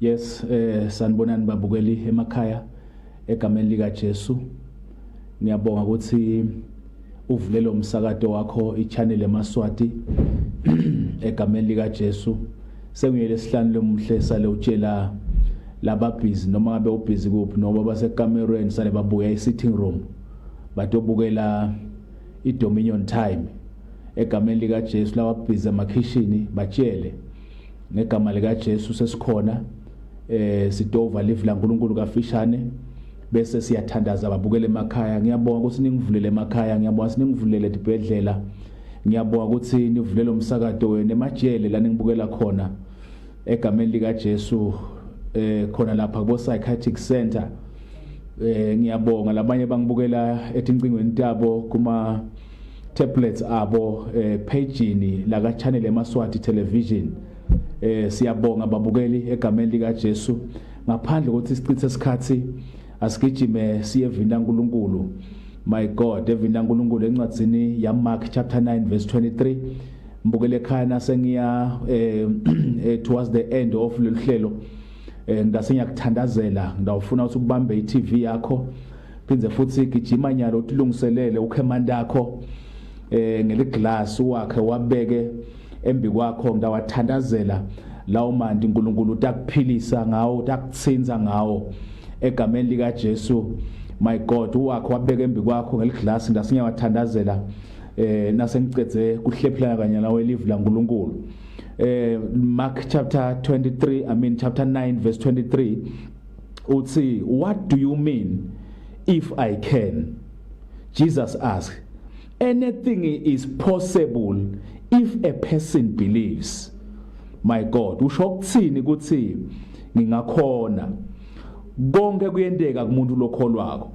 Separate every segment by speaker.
Speaker 1: Yes eh sanibonani babukeli emakhaya egameni lika Jesu ngiyabonga ukuthi uvule lo msakato wakho ichannel emaswati egameni lika Jesu sengiyele sihlanu lomuhle sale utshela lababhizi noma ngabe ubhizi kuphi noma basekamerweni sale babuya e-sitting room batobukela i-dominion time egameni likaJesu lababhizi emakhishini batshele ngegama likaJesu sesikhona eh sidova live laNkuluNkulu kafishane bese siyathandaza babukele emakhaya ngiyabonga ukuthi ningivulele emakhaya ngiyabonga ukuthi ningivulele dibhedlela ngiyabonga ukuthi nivulele umsakato wenu emajele la ningibukela khona egameni likaJesu eh khona lapha kubo psychiatric center eh ngiyabonga labanye bangibukela etincingweni tabo kuma tablets abo eh, pejini laka channel emaswati television eh siyabonga babukeli egameni lika Jesu ngaphandle kokuthi sichithe isikhathi asigijime siye vina uNkulunkulu my god evina uNkulunkulu encwadzini ya Mark chapter 9 verse 23 mbukele ekhaya nasengiya eh, eh towards the end of lolu hlelo eh ngase ngiyakuthandazela ngidawufuna ukuthi ubambe iTV yakho phinde futhi gijima nyalo utilungiselele ukhemanda yakho eh ngeliglass wakhe wabeke embi kwakho ngawathandazela lawo mandi uNkulunkulu utakuphilisa ngawo utakutsinza ngawo egameni lika Jesu my god wakho wabeka embi kwakho ngeliglass ngasingyawathandazela eh nasengicedze kuhlephelana kanye nawe live la uNkulunkulu eh Mark chapter 23 I mean chapter 9 verse 23 uthi what do you mean if i can jesus asked anything is possible if a person believes my god usho ukuthini ukuthi ngingakhona konke kuyenteka kumuntu lokholwako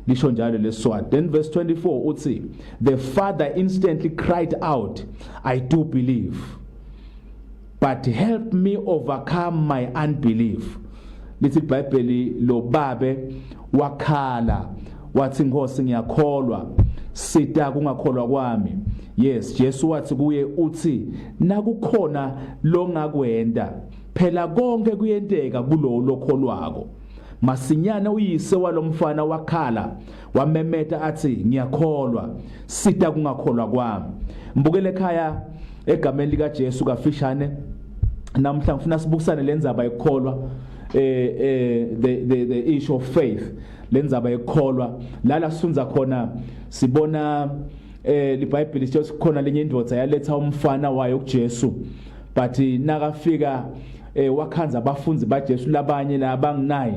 Speaker 1: lisho njalo leswati then verse 24 uthi the father instantly cried out i do believe but help me overcome my unbelief lithi iBhayibheli lo babe wakhala wathi inkosi ngiyakholwa sita kungakholwa kwami yes Jesu wathi kuye uthi nakukhona longakwenda phela konke kuyenteka kulowo lokholwako masinyane uyise walomfana wakhala wamemeta athi ngiyakholwa sita kungakholwa kwami mbukele ekhaya egameni lika Jesu kafishane namhla ngifuna sibukisane lenzaba yokukholwa eh eh the the the issue of faith lenzaba yokukholwa lala sifunza khona sibona eh libhayibheli sithi khona lenye indoda yaletha umfana wayo kuJesu but nakafika eh wakhanza abafundi baJesu labanye la bang9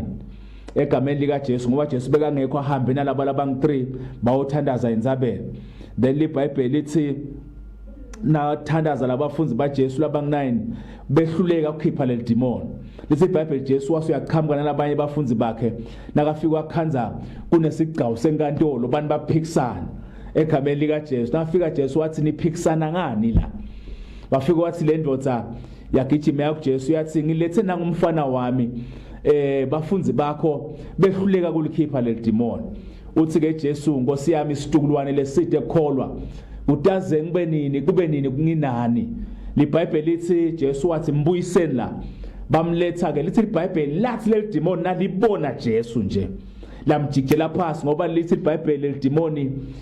Speaker 1: egameni lika Jesu ngoba Jesu bekangekho ahambe nalabo labangi 3 bawothandaza inzabelo then libhayibheli lithi nathandaza labafundi baJesu labangu9 behluleka ukukhipha leli demon lithi iBhayibheli Jesu wase uyaqhamuka nalabanye bafundi bakhe nakafika wakhanza kunesigcawu senkantolo abantu baphikisana egameni lika Jesu nafika Jesu wathi niphikisana ngani la wafika wathi le ndoda yagijima yakuJesu yathi ngilethe nangumfana wami eh bafunzi bakho behluleka kulikhipha leldimoni uthi ke Jesu Nkosi yami isitukulwane leside kukholwa kutaze ngibe nini kube nini kunginani libhayibheli lithi Jesu wathi mbuyiseni la bamletha ke lithi libhayibheli lathi leldimoni nalibona Jesu nje lamjikela phansi ngoba lithi ibhayibheli lidimoni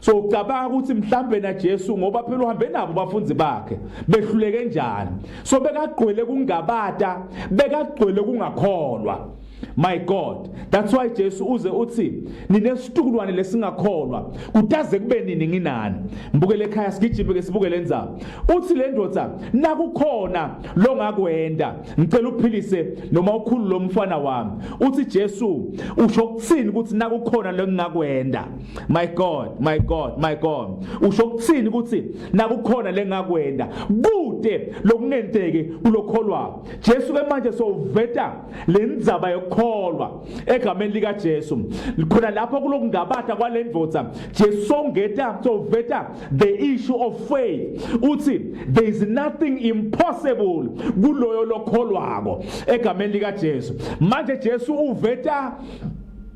Speaker 1: so ucabanga ukuthi mhlambe na Jesu ngoba phela uhambe nabo bafunzi bakhe behluleke njani so bekagqwele kungabata bekagqwele kungakholwa my god that's why Jesu uze uthi ninesitukulwane lesingakholwa kutaze kube nini nginani mbukele ekhaya sigijime ke sibukele indzaba uthi le ndoda nakukhona lo ngakwenda ngicela uphilise noma ukhulu lomfana wami uthi Jesu usho ukuthini ukuthi nakukhona lo ngingakwenda My God, my God, my God. Usho ukuthini ukuthi nakukhona lengakwenda kude lokungenteki kulokholwa. Jesu ke manje sowuveta lendzaba yokukholwa egameni lika Jesu. Khona lapho kulokungabatha kwalendvodza Jesu songeta sowuveta the issue of faith. Uthi there is nothing impossible kuloyo lokholwako egameni lika Jesu. Manje Jesu uveta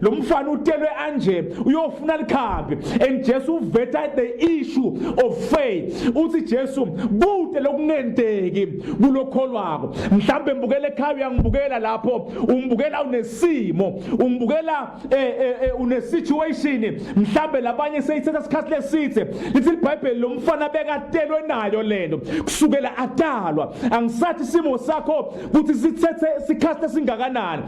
Speaker 1: lo mfana utelwe anje uyofuna likhambi and Jesu uveta the issue of faith uthi Jesu kude lokungenteki kulokholwako mhlambe mbukele ekhaya uyangibukela lapho umbukela unesimo umbukela eh, eh, eh, une situation mhlambe labanye seyithatha isikhathi lesithe lithi iBhayibheli lo mfana bekatelwe nayo lento kusukela atalwa angisathi isimo sakho ukuthi sithethe isikhathi esingakanani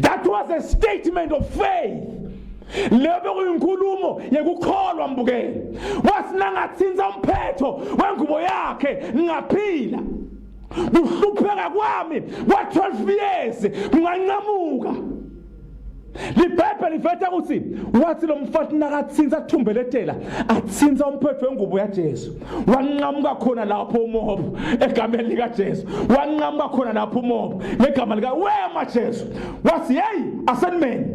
Speaker 1: That was a statement of faith. leyo bekuyinkulumo yekukholwa mbukeni wathi nangathinta umphetho wengubo yakhe ngingaphila kuhlupheka kwami kwa-12 years kungancamuka libhayibheli liveta ukuthi wathi lo mfati nakathinta athumbele etela athinta umphetho wengubo yajesu wanqamuka khona lapho umobo egameni likaJesu wanqamuka khona lapho umobo ngegama lika wema Jesu wathi hey asenimeni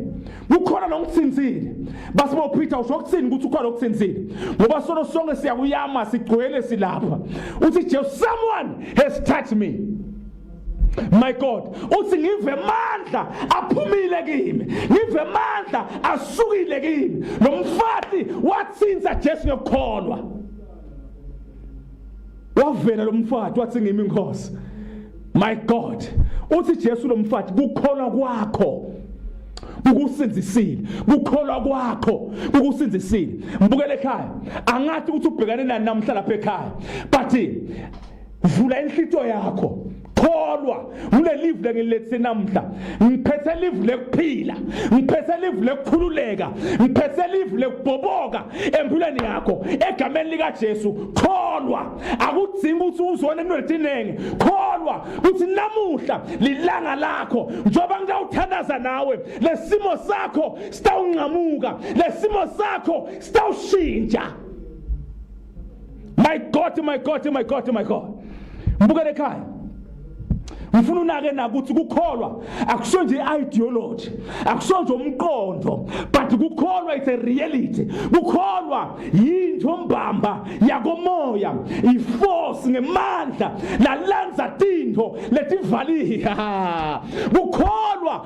Speaker 1: kukhona nokuthinzile basibo Peter usho ukuthini ukuthi ukhona okuthinzile ngoba sono sonke siyakuyama sigcwele silapha uthi Jesu someone has touched me my god uthi ngive mandla aphumile kimi ngive mandla asukile kimi lomfati wathinta Jesu ngokukholwa wavela lomfati wathi ngimi inkosi my god uthi Jesu lomfati kukholwa kwakho kukusinzisile kukholwa kwakho kukusinzisile mbukele ekhaya angathi ukuthi ubhekane nani namhla lapha ekhaya but vula inhlito yakho kholwa ngile live lengilethise namhla ngiphethe live lekuphila ngiphethe live lekukhululeka ngiphethe live lekubhoboka empilweni yakho egameni lika Jesu kholwa akudzingi ukuthi uzone emnwetinenge kholwa ukuthi namuhla lilanga lakho njoba ngitawuthandaza nawe lesimo sakho sitawunqamuka lesimo sakho sitawushintsha My God, my God, my God, my God. Mbukele ekhaya. ngifuna unake nakuthi kukholwa akusho nje ideology akusho nje umqondo but kukholwa it's a reality kukholwa yinto mbamba yakomoya iforce ngemandla lalenza tinto letivaliha kukholwa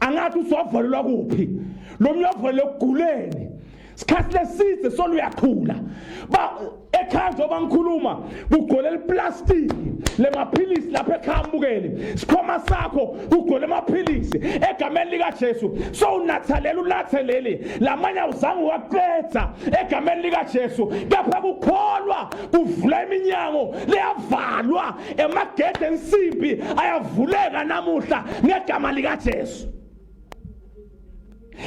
Speaker 1: angathi usovalelwa kuphi lo mntu avalele ekuguleni sikhathi leside soluyakhula ba ekhaya njengoba ngikhuluma kugolela iplastiki lemaphilisi lapha ekhaya mbukeli sikhoma sakho kugole amaphilisi egameni likajesu sowunathalela unathe leli lamanye awuzange waqeda egameni likajesu kepha kukholwa kuvula iminyango leyavalwa emagede ensimbi ayavuleka namuhla ngegama likaJesu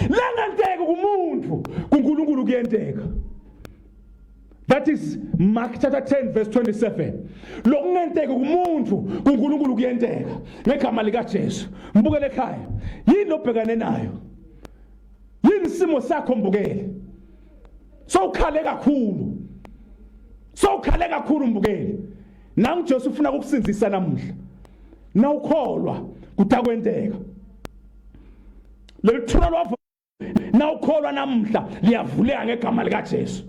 Speaker 1: langenteka kumuntu kuNkulunkulu kuyenteka that is mark chapter 10 verse 27 lokungenteka kumuntu kuNkulunkulu kuyenteka ngegama likaJesu mbukele ekhaya yini obhekane nayo yini isimo sakho mbukele sowukhale kakhulu sowukhale kakhulu mbukele nangu Jesu ufuna ukukusindisa namuhla nawukholwa kutakwenteka leli thuna lwavo nawukholwa namuhla liyavuleka ngegama likaJesu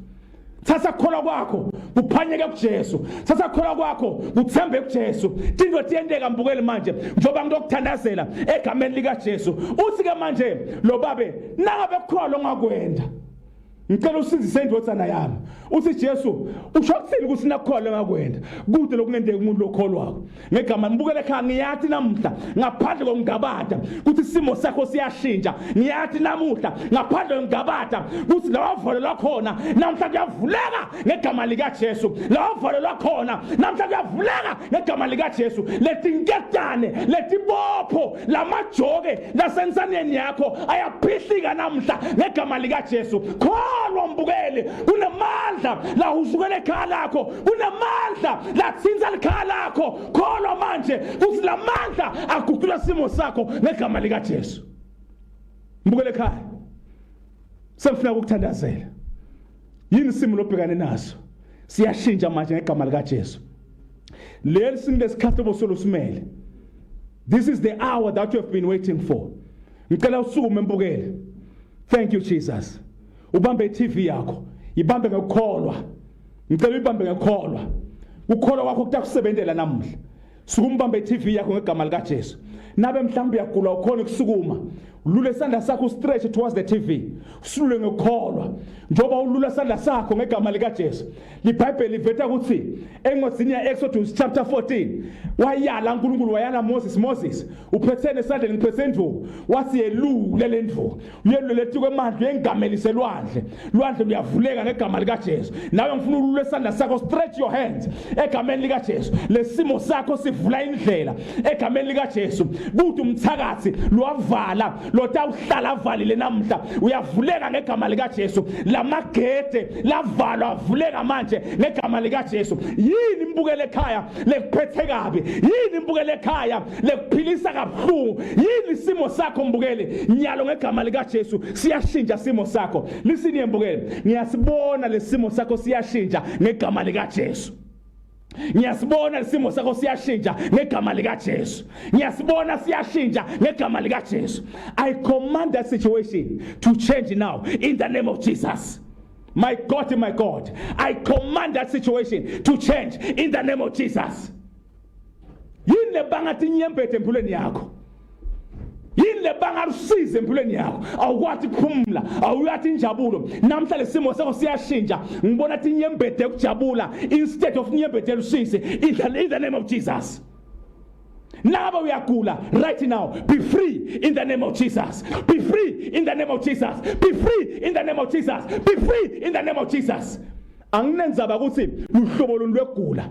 Speaker 1: thatha kukholwa kwakho kuphanyeke kuJesu thatha kukholwa kwakho kuthembe kuJesu tindwe tiyenteka mbukele manje njoba ngizokuthandazela egameni likaJesu uthi ke manje lo babe nangabe kukhona ongakwenda ngicela usindise indodana yami uthi Jesu usho kuthini ukuthi nakukholwe ngakwenda kude lokungenzeka umuntu lokholwako ngegama ngibukele ekhaya ngiyathi namuhla ngaphandle kokungabada ukuthi isimo sakho siyashintsha ngiyathi namuhla ngaphandle kokungabada ukuthi lawavolo lwakhona namuhla kuyavuleka ngegama likaJesu lawavolo lwakhona namuhla kuyavuleka ngegama likaJesu letinketane letibopho lamajoke nasensaneni yakho ayaphihlika namhla ngegama likaJesu kholwa mbukeli kunamandla la usukela ekhaya lakho kunamandla la thinta likhaya lakho kholwa manje kuthi lamandla aguqula simo sakho ngegama likaJesu mbukele ekhaya sengifuna ukuthandazela yini isimo lobhekane naso siyashintsha manje ngegama likaJesu leli simo lesikhathi obosolo simele this is the hour that you have been waiting for ngicela usukume mbukele thank you Jesus ubambe iTV yakho ibambe ngokukholwa ngicela uyibambe ngokukholwa ukukholwa kwakho kutakusebenzela namuhla sukumbambe TV yakho ngegama lika Jesu nabe mhlawumbe uyagula ukhona ukusukuma ulule isandla sakho ustretch towards the TV usulule ngokukholwa njoba ulula isandla sakho ngegama lika Jesu libhayibheli liveta ukuthi encwadini ya Exodus chapter 14 wayala uNkulunkulu wayala Moses Moses uphethene esandleni ngiphethe indvu wathi yelule lendvu uyelule lethi kwemandla uyengamelise lwandle lwandle luyavuleka ngegama likaJesu nawe ngifuna ulule isandla sakho stretch your hands egameni likaJesu lesimo sakho sivula indlela egameni likaJesu kuthi umthakathi lwavala lotawuhlala avalile namhla uyavuleka ngegama likaJesu lamagede lavalwa avuleka manje ngegama likaJesu yini imbukele ekhaya lekuphethe kabi yini imbukele ekhaya lekuphilisa kabuhlungu yini isimo sakho mbukeli nyalo ngegama likaJesu siyashintsha isimo sakho lisini mbukeli ngiyasibona lesimo sakho siyashintsha ngegama likaJesu ngiyasibona isimo sakho siyashintsha ngegama likaJesu ngiyasibona siyashintsha ngegama likaJesu i command that situation to change now in the name of Jesus my god my god i command that situation to change in the name of Jesus yini lebanga tinyembethe empilweni yakho yini lebanga lusize empilweni yakho awukwathi kuphumula awuyathi injabulo namhla lesimo sakho siyashintsha ngibona tinyembethe ukujabula instead of nyembethe lusize in the, in the name of jesus Naba uyagula right now. Be free in the name of Jesus. Be free in the name of Jesus. Be free in the name of Jesus. Be free in the name of Jesus. anginenzaba ukuthi luhlobo luni lwegula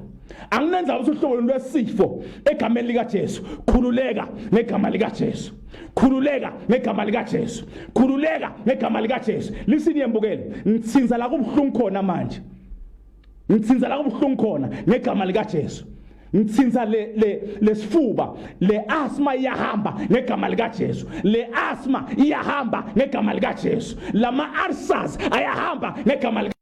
Speaker 1: anginenzaba ukuthi uhlobo luni lwesifo egameni likaJesu khululeka ngegama likaJesu khululeka ngegama likaJesu khululeka ngegama likaJesu lisini yembukele ngithinza la kubuhlungu khona manje ngithinza la kubuhlungu khona ngegama likaJesu ngithinta le le lesifuba le asthma iyahamba ngegama lika Jesu le asthma iyahamba ngegama lika Jesu lama ulcers ayahamba ngegama lika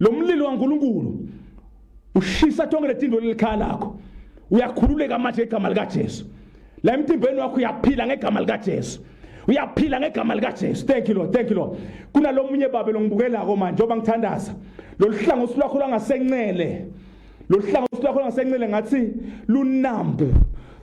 Speaker 1: lo mlilo kaNkulunkulu ushisa tonke letinto lelikhaya lakho uyakhululeka manje igama likaJesu la emtimbeni wakho uyaphila ngegama likaJesu uyaphila ngegama likaJesu thank you Lord thank you Lord kunalomunye babe longibukelako manje njengoba ngithandaza loluhlangothi lwakho lwangasencele loluhlangothi lwakho lwangasencele ngathi lunambu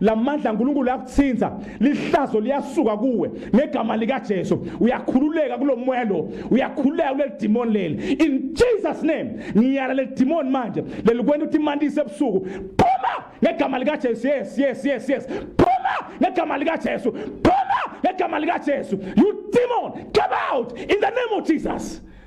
Speaker 1: lamandla uNkulunkulu yakuthinta lihlazo liyasuka kuwe ngegama lika Jesu uyakhululeka kulomoya lo uyakhululeka kuleli demon leli in Jesus name ngiyala leli demon manje lelikwenda ukuthi imandise ebusuku phuma ngegama lika Jesu yes yes yes yes phuma ngegama lika Jesu phuma ngegama lika Jesu you demon come out in the name of Jesus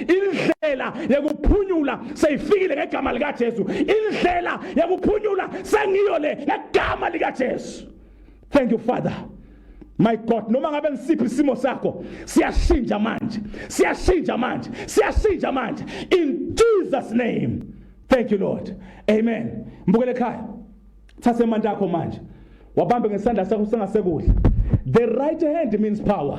Speaker 1: indlela yekuphunyula seyifikile ngegama likaJesu indlela yekuphunyula sengiyo le ngegama likaJesu thank you father My God noma ngabe nisiphi isimo sakho siyashintsha manje siyashintsha manje siyashintsha manje in Jesus name thank you Lord amen mbukele ekhaya thatha imandla yakho manje wabambe ngesandla sakho sengasekudla the right hand means power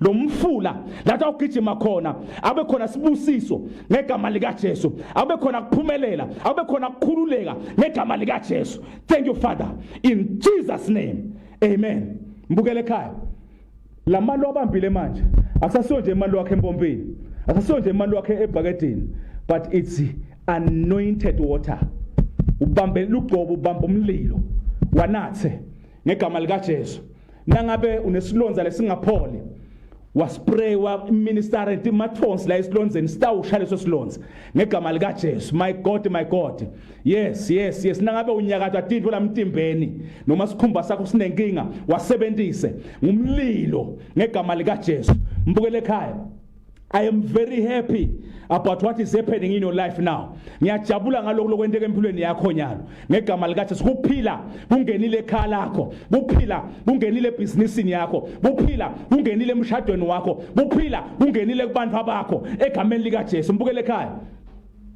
Speaker 1: lo mfula lathi awugijima khona abe khona sibusiso ngegama likaJesu abe khona kuphumelela abe khona kukhululeka ngegama likaJesu thank you father in Jesus name amen mbukele ekhaya lamalo abambile manje akusasiyo nje imali wakhe empompini akusasiyo nje imali wakhe ebhakedini but it's anointed water ubambe lugcobo ubamba umlilo wanathe ngegama likaJesu nangabe unesilonza lesingapholi waspray wa minister and mathonsi la esilonzeni sitawusha leso silonza ngegama lika Jesu my god my god yes yes yes nangabe unyakatha tinto lamtimbeni noma sikhumba sakho sinenkinga wasebenzise ngumlilo ngegama lika Jesu mbukele ekhaya I am very happy about what is happening in your life now. Ngiyajabula ngalokho lokwenteka empilweni yakho nyalo. Ngegama lika Jesu kuphila kungenile ekhaya lakho. Kuphila kungenile ebhizinisini yakho. Kuphila kungenile emshadweni wakho. Kuphila kungenile kubantu abakho egameni lika Jesu. Mbukele ekhaya.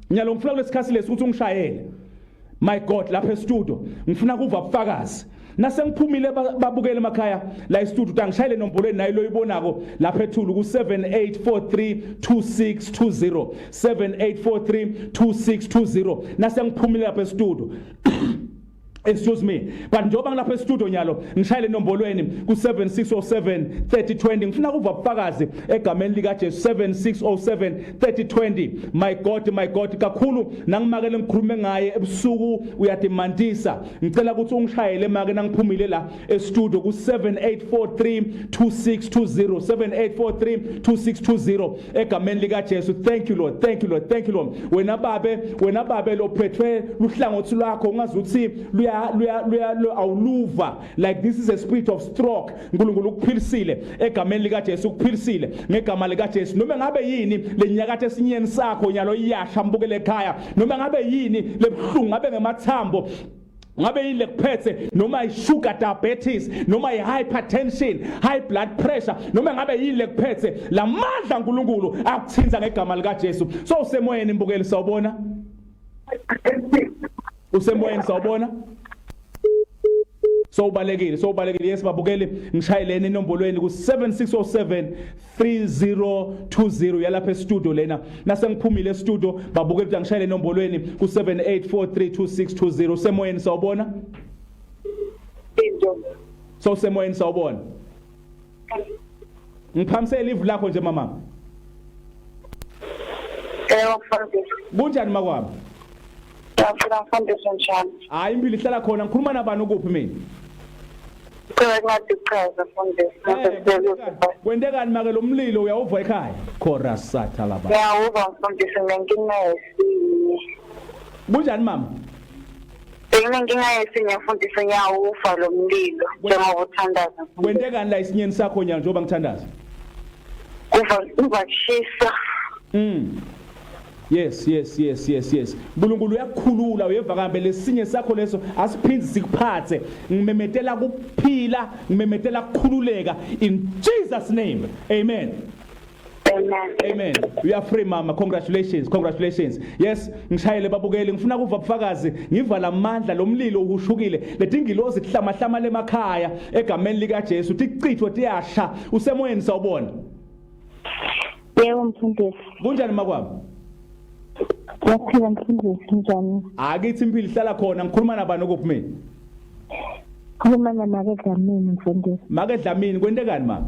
Speaker 1: Nyalo ngifuna kulesikhathi lesi ukuthi ungishayele. my god lapha estudio ngifuna kuva ubufakazi nasengiphumile babukele emakhaya la estudio tangishayile nombolweni nayo loyibonako lapha ethulu ku78432620 78432620 nasengiphumile lapha estudio excuse me but njengoba ngilapha estudio nyalo ngishayile enombolweni ku7607 3020 ngifuna kuva ubufakazi egameni lika Jesu 7607 3020 my god my god kakhulu nangimakele ngikhulume ngaye ebusuku uyadimantisa ngicela ukuthi ungishayele make nangiphumile la estudio ku 78432620 egameni lika Jesu thank you lord thank you lord thank you lord wena babe wena babe lophethwe luhlangothi lwakho ungazuthi luya luya awuluva like this is a spirit of stroke Nkulunkulu ukuphilisile egameni lika Jesu ukuphilisile ngegama lika Jesu noma ngabe yini lenyakathe esinyeni sakho nyalo iyasha mbukele ekhaya noma ngabe yini lebuhlungu ngabe ngemathambo ngabe yini lekuphethe noma i-sugar diabetes noma i-hypertension high blood pressure noma ngabe yini lekuphethe la mandla nkulunkulu akuthinta ngegama likajesu so usemoyeni mbukeli sawubona usemoyeni sawubona sowubalekile sowubalekile yes babukeli ngishayeleni enombolweni ku7607 3020 yalapha estudio lena nasengiphumile estudio babukeli ukuthi angishayele enombolweni ku78432620 semoyeni sawubona into sowusemoyeni sawubona ngiphamisele ivu lakho nje mama Yebo mfundisi. Kunjani makwabo? Ngiyaphila
Speaker 2: mfundisi njani? Hayi impilo ihlala khona
Speaker 1: ngikhuluma nabani ukuphi mina? Cela ngathi
Speaker 2: chaza mfundisi. Eh,
Speaker 1: Kwentekani make lo mlilo uyawuva ekhaya? Chorus satha laba. Ngiyawuva mfundisi
Speaker 2: ngenkinesi.
Speaker 1: Kunjani mama?
Speaker 2: Benginenkinga yesinye futhi sinyawufa lo mlilo njengoba uthandaza. Wente kani la isinyeni
Speaker 1: sakho nyalo njengoba ngithandaza? Kuva kuva
Speaker 2: kushisa. Mm.
Speaker 1: Yes yes yes yes yes. Nkulunkulu uyakukhulula uyeva kambe lesinye sakho leso asiphindi sikuphathe. Ngimemetela kuphila, ngimemetela kukhululeka in Jesus name. Amen. Amen. You are free mama. Congratulations. Congratulations. Yes, ngishayele babukeli ngifuna kuva ubufakazi ngivala amandla lomlilo uhushukile. Letingilozi kuhlamahlama lemakhaya egameni lika Jesu tichithwe tiyasha usemoyeni sawubona.
Speaker 2: Yebo mfundisi. Kunjani makwami? Yaphila mfundisi njani? Akithi impilo ihlala
Speaker 1: khona ngikhuluma nabani okuphi mina?
Speaker 2: Khuluma namake Dlamini mfundisi. Make Dlamini kwentekani
Speaker 1: mama?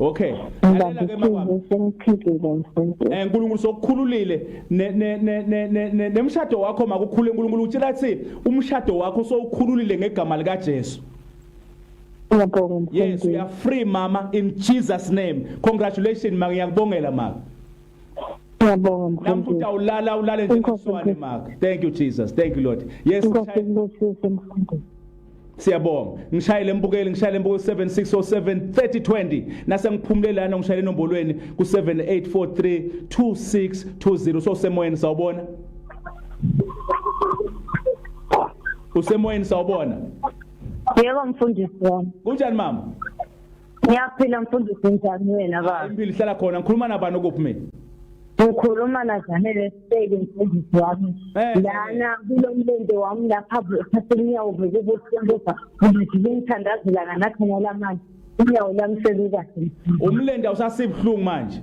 Speaker 2: Okay.
Speaker 1: Lalela ke makwami.
Speaker 2: Eh uNkulunkulu sokukhululile
Speaker 1: ne ne ne ne ne nemshado wakho makukhule uNkulunkulu utshela ukuthi umshado wakho sowukhululile ngegama lika Jesu. Ngiyabonga. Yes, we are free mama in Jesus name. Congratulations mangiyakubongela mama.
Speaker 2: Ngiyabonga mkhulu. Namfuta ulala ulale
Speaker 1: nje kuswane maka. Thank you Jesus. Thank you Lord. Yes. Siyabonga. Ngishayele mbukeli, ngishayele mbuko 76073020 nase ngiphumule lana ngishayele enombolweni ku 78432620 so semoyeni sawubona. Usemoyeni sawubona. Yebo
Speaker 2: mfundisi wami. Kunjani mama?
Speaker 1: Ngiyaphila
Speaker 2: mfundisi njani wena baba? Impilo ihlala khona ngikhuluma
Speaker 1: nabani okuphi mina? Ngikhuluma
Speaker 2: naZanele Sibeke mfundisi wami. Eh. Lana kulo mlende wami lapha kuthatha inyawo bheke kubuhlunguza. Ngithi ngithandazela nganakhona lamanje. Inyawo lami selikahle. Umlende
Speaker 1: awusasibuhlungu manje.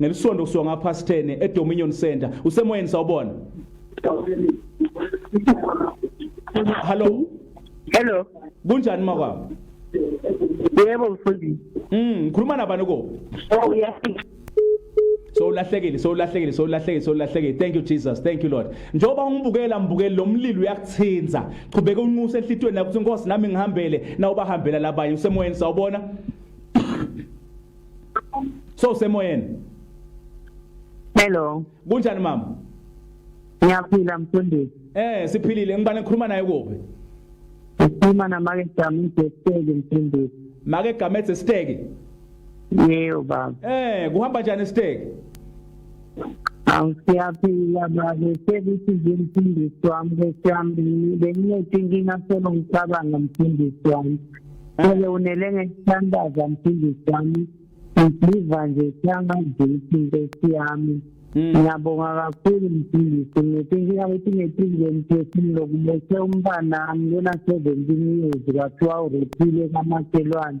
Speaker 1: ngelisonto kusuka ngaphasi 10 eDominion Center usemoyeni sawubona Hello Hello
Speaker 2: kunjani
Speaker 1: makwabo
Speaker 2: Yebo mfundisi Mm ngikhuluma nabani
Speaker 1: ko Oh yes so ulahlekile so ulahlekile so ulahlekile so ulahlekile thank you jesus thank you lord njengoba ungibukela mbukeli lo mlilo uyakuthinza qhubeka unxuse enhlitweni nakuthi inkosi nami ngihambele na ubahambela labanye usemoyeni sawubona so semoyeni hello
Speaker 2: kunjani
Speaker 1: mama
Speaker 2: ngiyaphila mfundisi eh siphilile ngibane
Speaker 1: ngikhuluma naye kuphi ngikhuluma
Speaker 2: namake jamide steke mfundisi make gametse
Speaker 1: steke yebo
Speaker 2: baba eh kuhamba njani
Speaker 1: steke awu
Speaker 2: siyaphila babe sekuthi nje mfundisi wami kwesiyami benginethi inkinga solo ngicabanga mfundisi wami ake unele ngekuthandaza mfundisi wami ngiziva nje siyangaziphi inkosi yami hmm. ngiyabonga kakhulu mfundisi ngithi inkinga ukuthi ngethile mthethini lokubese umntanami lona seventeen years kwathiwa urephile kamaselwane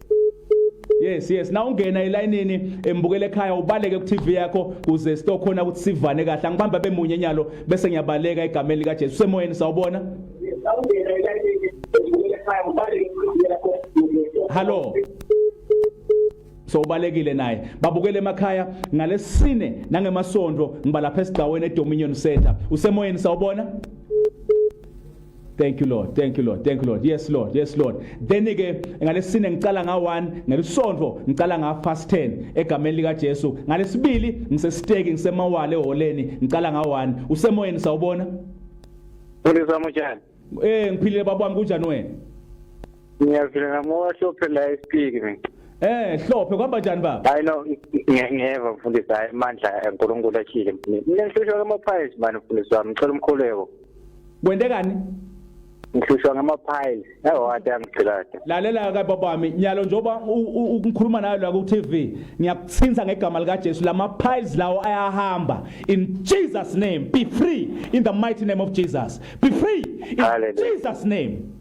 Speaker 1: yes yes na ungena elayinini embukele ekhaya ubaleke ku TV yakho kuze sitokhona ukuthi sivane kahle angibamba bemunye nyalo bese ngiyabaleka egameni lika Jesu semoyeni sawubona na ungena elayinini embukele ekhaya ubaleke ku TV yakho hallo so ubalekile naye babukele emakhaya ngalesine nangemasonto ngiba lapha esigcaweni eDominion Center usemoyeni sawubona Thank you Lord. Thank you Lord. Thank you Lord. Yes Lord. Yes Lord. Then ke ngalesine ngicala nga 1, ngelisonto ngicala nga fast 10 egameni lika Jesu. Ngalesibili ngisesiteki ngisemawale eholeni ngicala nga 1. Usemoyeni sawubona?
Speaker 3: Ngizwa mujani? Eh ngiphilile baba
Speaker 1: wami kunjani wena? Ngiyaphila
Speaker 3: ngamoya hlophe la esipiki mina. Eh hlophe
Speaker 1: kwamba njani baba? Hayi no
Speaker 3: ngiyeva mfundisi hayi amandla eNkulunkulu akhile. Mina ngihlushwa kama price manje mfundisi wami ngicela umkhuleko. kwentekani ngihlushwa ngamaphayile ewade angigcilade lalela ke babami
Speaker 1: nyalo njengoba ukungikhuluma nayo la ku TV ngiyakuthinta ngegama lika Jesu lama piles lawo ayahamba in Jesus name be free in the mighty name of Jesus be free in Hallelujah. Jesus name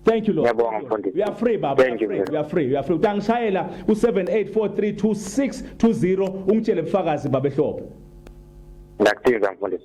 Speaker 1: Thank you Lord. Yabonga mfundisi. We are free baba. Thank you. We are free. We are free. Utangishayela ku 78432620 ungitshele ubufakazi baba ehlobo. Ngakuthiza
Speaker 3: mfundisi.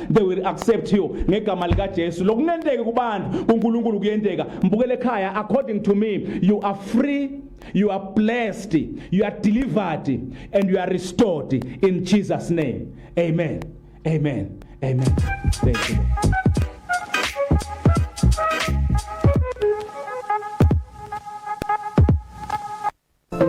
Speaker 1: they will accept you ngegama lika Jesu lokungenteki kubantu kuNkulunkulu kuyenteka mbukele ekhaya according to me you are free you are blessed you are delivered and you are restored in Jesus name amen amen amen thank you